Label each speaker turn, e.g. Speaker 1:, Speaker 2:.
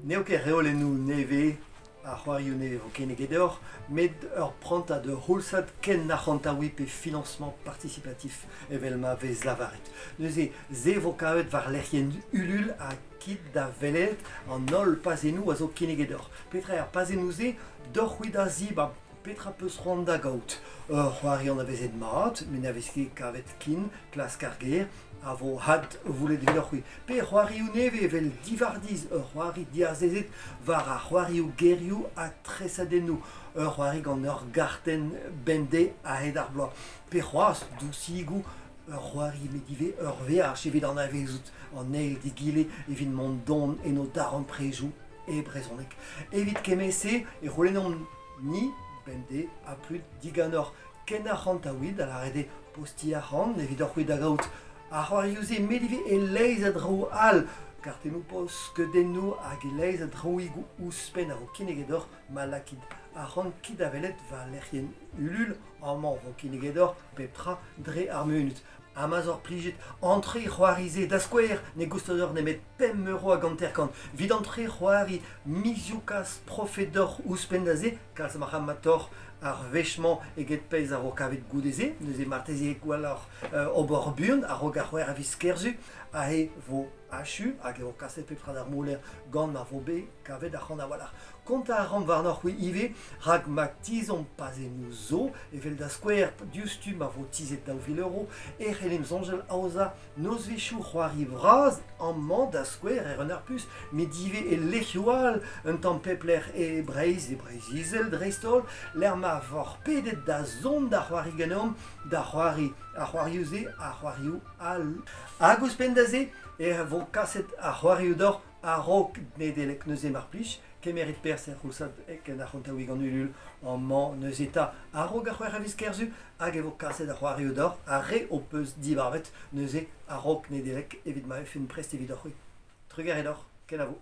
Speaker 1: N'eo ket reolennoù nevez ar c'hoarioù ne vo kinniget deoc'h, met ur prantad ur c'houlzad ken arc'hantaouiñ pe financement participatif evel ma vez lavaret. Neuze, se vo kavet war lec'hienn Ulul ha kit da welet an holl pazennoù a zo kinniget deoc'h. Petra er pazennoù-se? Deoc'h-c'hwi da zibab Petra 'peus c'hoant da gaout? Ur c'hoari anavezet mat, met ne vez ket kavet ken, klask ar ger, a vo had voullet devioc'h-c'hwi. Pe c'hoarioù nevez evel Divardiz, ur c'hoari diazezet war ar c'hoarioù gerioù ha tresadennoù, ur c'hoari gant ur gartenn bemdez a-hed ar bloaz. Pe c'hoazh dousigoù, ur c'hoari met ivez ur veaj evit anavezout an eil d'egile evit mont don en o darempredoù e brezhoneg. Evit kement-se e c'houlennomp Ni bemdez ha tud diganeoc'h ken arc'hantaouit a lâre dezhe postiñ arc'hant evidoc'h-c'hwi da gaout. Ar c'hoarioù-se met ivez e-leizh a draoù all. Kartennoù-post-skeudennoù hag e-leizh a draoùigoù ouzhpenn a ro kinnig deoc'h ma lakit arc'hant kit da welet war lec'hienn Lul amañ o ro kinnig deoc'h pep tra dre ar munut. Ha ma 'z oc'h plijet entre c'hoari-se da skouer ne goustez deoc'h nemet pemp euro hag hanter-kant evit entre c'hoari mizioù-kas profet deoc'h ouzhpenn da se kalz a marc'hamatoc'h ar wech-mañ eget pezh a ro kavet goude-se neuze marteze gwelloc'h ober buan a-raok ar c'hwec'h a viz kerzu ha e vo achu hag e vo kaset pep tra d'ar moler gant ma vo bet kavet ac'han a-walc'h Kontañ a ran warnoc'h-c'hwi ivez, rak ma tizhomp pa 'z emo zo, evel da skouer diouzhtu ma vo tizhet daou vil euro, e c'hellimp soñjal aozañ nozvezhioù c'hoari vras amañ da skouer er Renarpus, met ivez e lec'hioù all, un tamm pep lec'h e Breizh, e Breizh-Izel dreist-holl, lec'h ma voc'h pedet da zont da c'hoari ganeomp, da c'hoari ar c'hoarioù-se, ar c'hoarioù all. Hag ouzhpenn da se, e vo kaset ar c'hoarioù deoc'h A-raok Nedeleg neuze mar plij, kemeret perzh er c'houlzad en ar c'hontaouig an Ulul amañ neuze 'ta. A-raok ar c'hwec'h a viz Kerzu hag e vo kaset ar c'hoarioù deoc'h, ar re ho peus dibarvet neuze a-raok Nedeleg evit ma vefemp prest evidoc'h-c'hwi. Trugarez deoc'h, kenavo.